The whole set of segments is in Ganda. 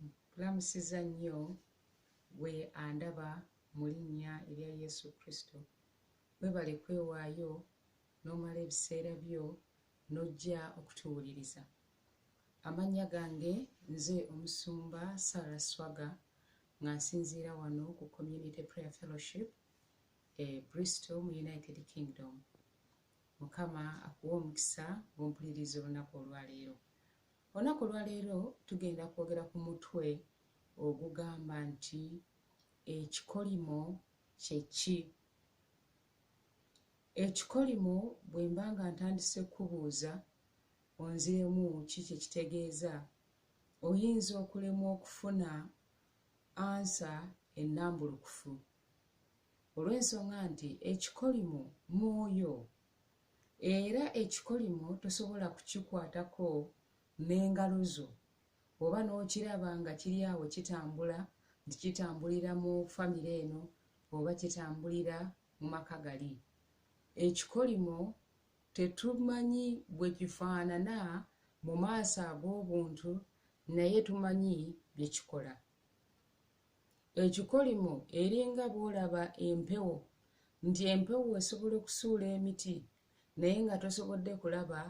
nkulamusiza nnyo gwe andaba mu linnya erya yesu kristo webale kwewaayo n'omala ebiseera byo n'ojja okutuwuliriza amannya gange nze omusumba sara swaga nga nsinziira wano ku community prayer fellowship e bristol mu united kingdom mukama akuwa omukisa gw'ompuliriza olunaku olwaleero Olunaku olwaleero tugenda kwogera ku mutwe ogugamba nti ekikolimo kye ki? Ekikolimo bwe mba nga ntandise kukubuuza onziremu ki kye kitegeeza, oyinza okulemwa okufuna ansa ennambulukufu olw'ensonga nti ekikolimo mwoyo Era ekikolimo tosobola kukikwatako n'engalo zo oba n'okiraba nga kiri awo kitambula nti kitambulira mu famire eno oba kitambulira mu maka gali. Ekikolimo tetumanyi bwe kifaanana mu maaso ag'obuntu naye tumanyi bye kikola. Ekikolimo eringa bw'olaba empewo nti empewo esobola okusuula emiti naye nga tosobodde kulaba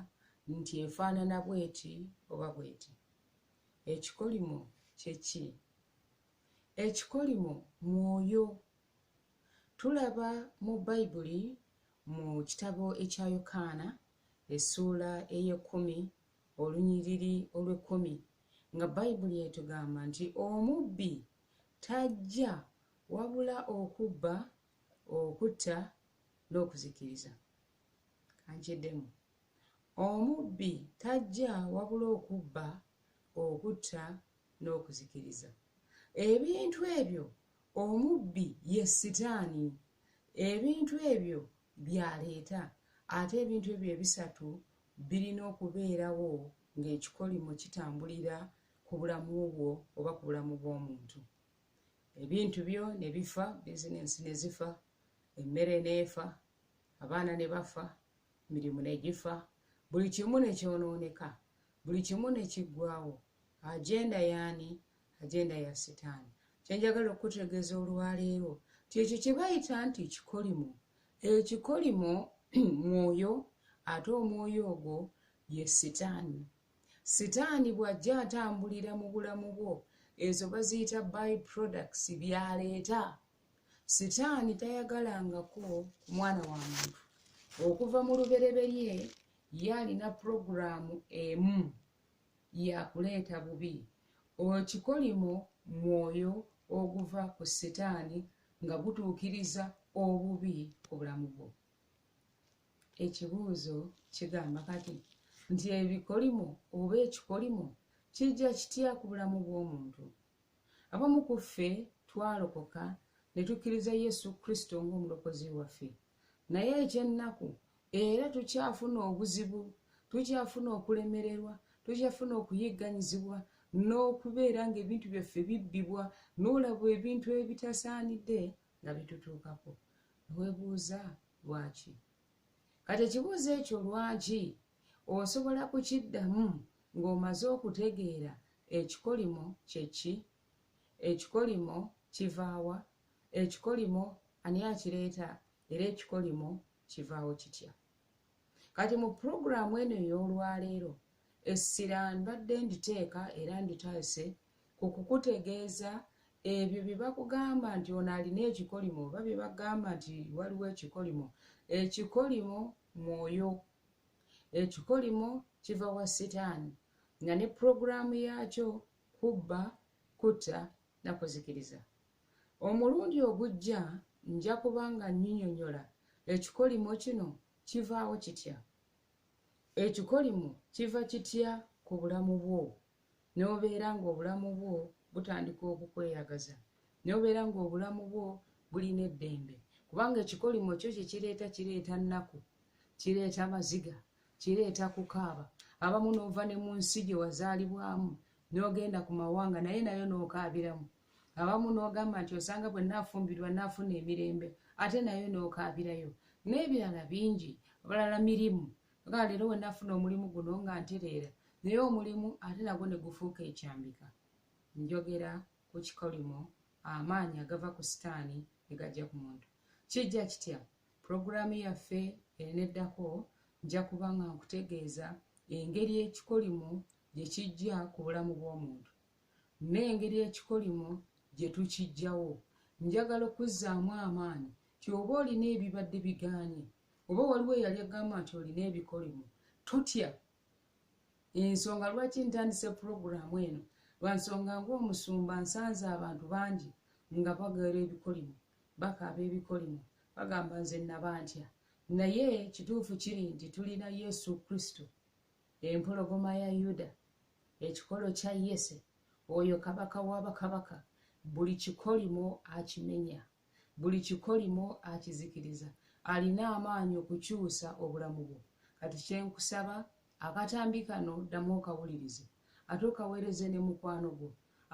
nti efaanana bw'eti oba bw'eti. Ekikolimo kye ki? Ekikolimo mwoyo. Tulaba mu Bayibuli mu kitabo ekya Yokaana essuula ey'ekkumi olunyiriri olw'ekkumi nga bayibuli etugamba nti omubbi tajja wabula okubba okutta n'okuzikiriza kankiddemu omubbi tajja wabula okubba okutta n'okuzikiriza ebintu ebyo omubbi ye sitaani ebintu ebyo byaleeta ate ebintu ebyo ebisatu birina okubeerawo ng'ekikolimo kitambulira ku bulamu bwo oba ku bulamu bw'omuntu ebintu byo ne bifa bizinensi ne zifa emmere n'efa abaana ne bafa mirimu ne gifa buli kimu ne kyonooneka buli kimu ne kiggwawo agenda yaani agenda ya sitaani kyenjagala okukutegeeza olwaleero ti ekyo kye bayita nti ekikolimo ekikolimo mwoyo ate omwoyo ogwo ye sitaani sitaani bw'ajja atambulira mu bulamu bwo ezo baziyita by products byaleeta sitaani tayagalangako ku mwana wa muntu okuva mu lubereberye ye alina pulogulaamu emu yakuleeta bubi okikolimo mwoyo oguva ku sitaani nga gutuukiriza obubi ku bulamu bwo ekibuuzo kigamba kati nti ebikolimo oba ekikolimo kijja kitya ku bulamu bw'omuntu abamu ku ffe twalokoka ne tukkiriza yesu kristo ng'omulokozi waffe naye ekyennaku era tukyafuna obuzibu tukyafuna okulemererwa tukyafuna okuyigganyizibwa n'okubeera ng'ebintu byaffe bibbibwa n'olabwa ebintu ebitasaanidde nga bitutuukako webuuza lwaki kati ekibuuzo ekyo lwaki osobola kukiddamu ng'omaze okutegeera ekikolimo kyeki ekikolimo kivaawa ekikolimo ani akireeta era ekikolimo kivaawo kitya kati mu pulogulaamu eno ey'olwaleero essira mbadde nditeeka era nditaase ku kukutegeeza ebyo bye bakugamba nti ono alina ekikolimo oba bye bagamba nti waliwo ekikolimo ekikolimo mwoyo ekikolimo kiva wa sitaani nga ne pulogulaamu yaakyo kubba kutta nakuzikiriza omulundi ogujja nja kuba nga nyinyonyola ekikolimo kino kivaawo kitya ekikolimo kiva kitya ku bulamu bwo n'obeera ng'obulamu bwo butandika okukweyagaza n'obeera ng'obulamu bwo bulina eddembe kubanga ekikolimo kyo kyekireeta kireeta nnaku kireeta maziga kireeta kukaaba abamu n'ova ne mu nsi gye wazaalibwamu nogenda ku mawanga naye nayo nokaabiramu abamu nogamba nti osanga bwe nafumbirwa nafuna emirembe ate nayo nokaabirayo n'ebirala bingi abalala mirimu oga leero we nafuna omulimu guno nga ntereera naye omulimu ate nagwo ne gufuuka ekyambika njogera ku kikolimo amaanyi agava ku sitaani ne gajja ku muntu kijja kitya pulogulaamu yaffe eneddako nja kuba nga nkutegeeza engeri ekikolimo gye kijja ku bulamu bw'omuntu n'engeri ekikolimo gye tukijjawo njagala okuzzaamu amaanyi ti oba olina ebibadde bigaanye oba waliwo eyali agamba nti olina ebikolimo totya ensonga lwaki ntandise pulogulaamu eno lwansonga ngaomusumba nsanze abantu bangi nga bagera ebikolimo bakaaba ebikolimo bagamba nze nabantya naye kituufu kiri nti tulina yesu kristo empologoma ya yuda ekikolo kya yese oyo kabaka wabakabaka buli kikolimo akimenya buli kikolimo akizikiriza alina amaanyi okukyusa obulamu bwo kati kyenkusaba akatambi kano ddamu okawulirize ate okaweereze ne mukwano gwo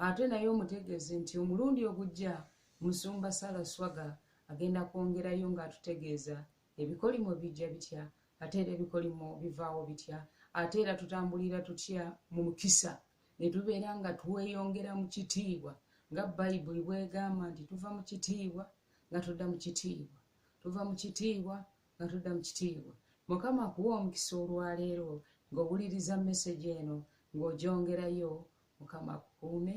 ate naye omutegeeze nti omulundi ogujja musumba sala swaga agenda kwongerayo ng'atutegeeza ebikolimo bijja bitya ate era ebikolimo bivaawo bitya ate era tutambulira tutya mu mukisa ne tubeera nga tweyongera mu kitiibwa nga bayibuli bwegamba nti tuva mu kitiibwa nga tudda mu kitiibwa tuva mu kitiibwa nga tudda mu kitiibwa mukama akuwa omukisa olwaleero ng'owuliriza mesegi eno ng'ogyongerayo mukama akukuume